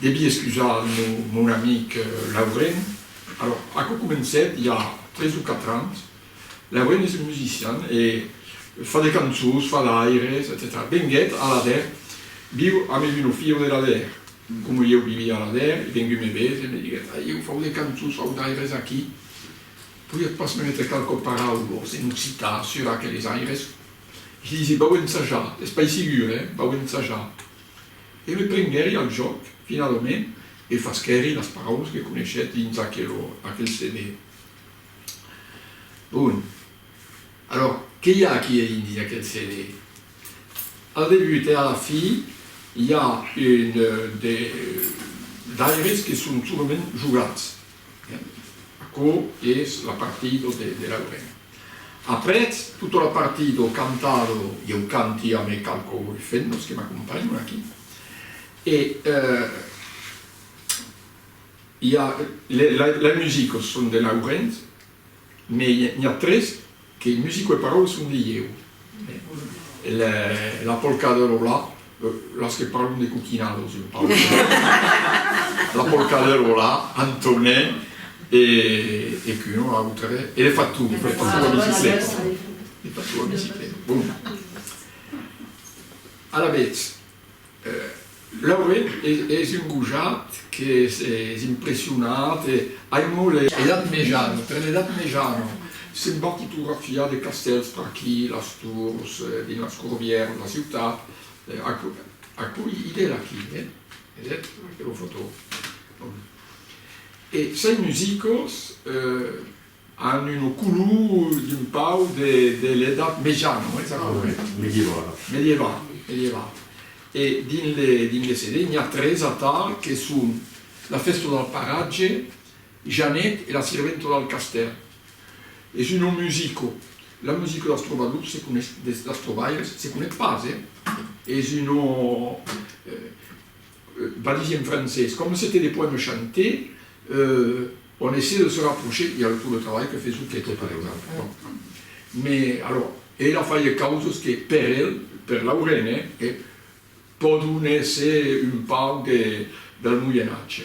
Devi excusar mon amic Lauren. Alòr, aquò comencèt i a tres o quatre ans. Lauren es un musician e fa de cançons, fa d'aires, etcetèra. Venguèt a Aladèr, viu amb es una filha de l'Aladèr. Coma ieu vivia a Aladèr, i venguèt me veser e me diguèt, Ai, ieu fau de cançons, fau d'aires aquí, podiatz pas me metre qualques paraules en occitan sur aqueles aires? Li disi, Vau ensajar, es pas sigur, eh? Vau ensajar. E me prenguèri al jòc, finalament, e fasquèri las paraulas que coneishèt dins aquel CD. Bon, alors, qué i a aquí a indi d'aquel CD? Al debut e a la fi, i a un de d'aires que son solament jogats. Aquò es la partida de Laurent. Aprètz tota la partida cantada, ieu canti amb es qualques fennos que m'acompanhan aquí, e i a, les musiques son de Laurent, mai n'i a tres Que musico e parole son de ieu. La polca de Lola, las que parlon de coquinados, jo parlo de Lola. La polca de Lola, Antone e qu'un o autre, e le fatou, le fatou a bicicleta, le fatou a bicicleta. Bon. Alavetz. Lauret es un gojat qu'es impressionat e aimó le. Edat mejana, per l'edat mejana se'n va fotografiar de castèls per aquí, las tors, dins las corbièras, la ciutat, aquò idèl aquí, vedètz aquela fotò, e Sai Musicos An una color d'un pauc de l'edat mejana, oi? S'ac corrèt. Medievala. Medievana, medievana. E dins le, dins le CD, n'i a tres atal que son La fèsta del paratge, Janet e La sirventa del castèl. Es una musico, la musico dels trobadors se coneis, des, dels trobalhers, se coneis pas, eh? Es una, va dire en francés, comme c'étaient des poèmes chantés, euh, on essayait de se rapprocher, il y avait tout le travail que fais-tu qui était par exemple, bon, mais alors, e la faie causes que per el, per Laurene, eh, pòdon èsser un pauc del Moyen Age.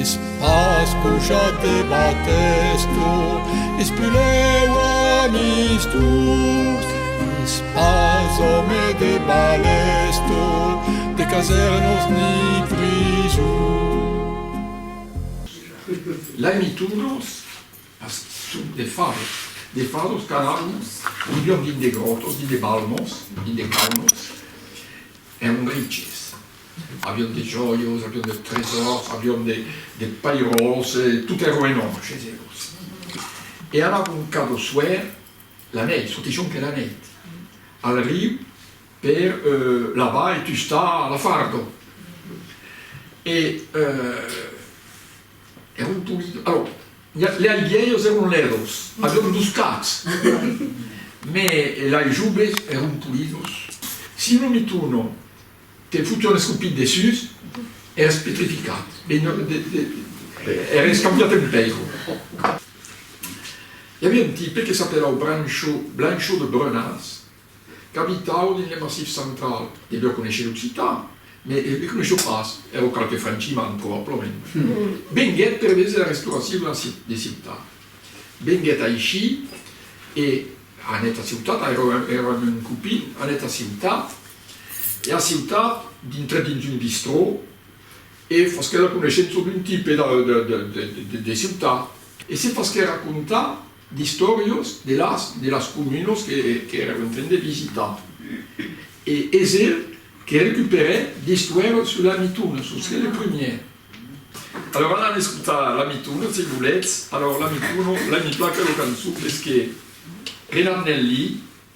Es pas pujat de batèsto, es pulèu amistós. Es pas òme de balèsto, de casèrnos ni prisons. Lai mitunos a suc de fados, de fados qu'anarmos milhor dins de gròtos, dins de balmons, dins de caunos, èron riches. Avion de jòios, avion de tresòrs, avion de pairòls, tot ero en òmbre chez elos. E anava un cap au soir, la nèit, çò que jonque la nèit, al riu per lavar e tustar la fardo. E eron polits, alors, lei vièlhos eron lèdos, avion dus cats, mès lei joves eron polits. Si non mi torno. Te fotu un escopit dessús, eres petrificat. Eres cambiat en pèira. I aviá un tipe que s'apelava Brancho, Blancho de Brunas, qu'abitava dins le Massif Central. Deviá conéisher l'occitan, mès e'u conéishió pas, èra qualque franchiman, probablament. Venguèt per vés la restauracion de ciutat. Venguèt aicí e anèt a ciutat, airò èra un copin, anèt a ciutat, E a ciutat, dintre dins un bistrò, e fasquèt la coneishença d'un tipe de ciutat, e se fasquèt racontar d'istòrias de las de las comunas qu'èra en train de visitar. E es el que recuperèt d'estuèras sus la mitona, sus que le premier. Alòra alan escotar la mitona, se volètz, alòra la mitona, la mi placa lo cançon, es que Renard Nelli,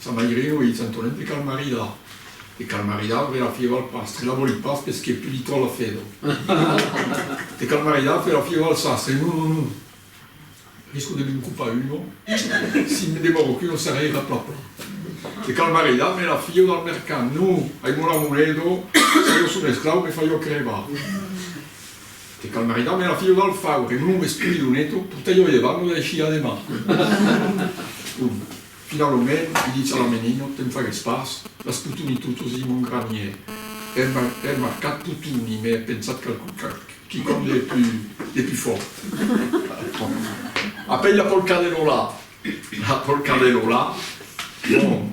Ça mai riu, ei Santonet de cal maridar. De cal maridar auré la fieu al pastre, la voli pas pes que tu li tò la fedo. De cal maridar fè la fieu al sastre, non, non, non, risco de me'n copar uno, si me demoro que uno s'arreira pla pla. De cal maridar me la fieu dal mercant, non, ai mòla mon edo, se jo son esclau me faio crebar. Que cal maridar mèra filho dal faure, non lo esprit lo neto, portei lo llevan lo daishia demà. Bon, finalomènt, li ditz a la menina, te'n fagues pas, las potoni totos dins mon granier. È mar, è marcat potoni, mè è pensat qu'a qu'a quicòm de pu, de pu fòrt. Après la polca de Lola, la polca de Lola, bon.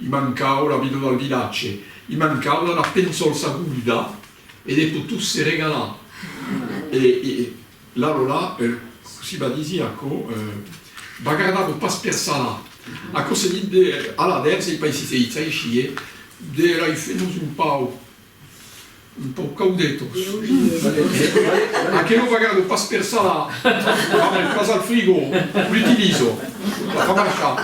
I mancau la vida del vilatge, i mancau la la pensolsa goluda e de potus se regalar. E la Lola, cossí va disir aquò, va gardar-lo pas per sala. Aquò se dit de, a la vers, ei pas aisit se ditz aicí, e de l'ai fait nos un pau. Un pauc caudetos. A que lo vagado pas per salar, vam el pas al frigo, l'utilizo, la fa marchar.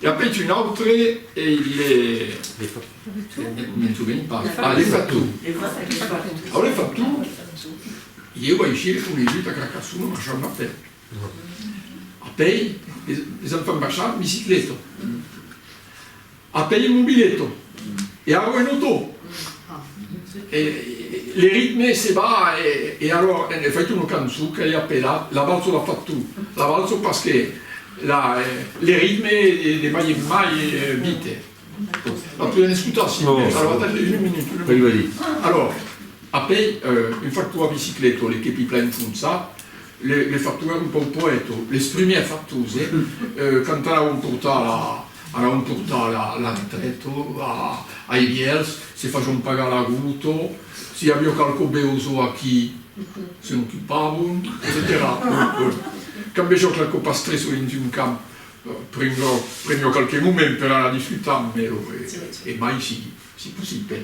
E apèit un autre e il le. Le fa tu. Me'n sovenc pas. Ah, le fa tu. Le fa tu. Au le fa tu, ieu aicí le conegut a Carcassona, Marchand Martel. A pei, es an fan marchar en bicicleta. A pei en mobileta. E aro en auto. Le ritme se va e aro en efècte una cançon qu'ai apelat La valsa la fa tu. La valsa pas que le ritme e de mai en mai vite. La podem escotar si volètz. Alo atendètz una minuta, una minuta. Alo, a pei, un factor a bicicleta, le kepi plan enfonsat, Le factor èra un pauc poèto, les primièrs factors, eh? Quand anavan portar la, anavan portar la, la retraite a, ai vièlhs, se facion pagar la gota, si i aviá qualqu'o besoh aquí, se n'ocupavan, etcetèra. Cambejo qualqu'o pastreço dins un camp, prengo, prengo qualque moment per anar disfrutar, mèro e, e mai si, si possible.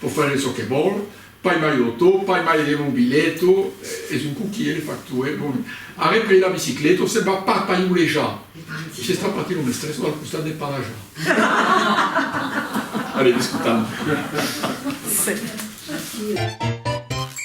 Pò faire çò que vòl, pas mai l'auto, pas mai le mobileto, es un coquier le factor, eh bon. Arreple la bicicleta o se'n va pas païulejar, s'està patint un estresso al costat de Palaja. Allez, discutam.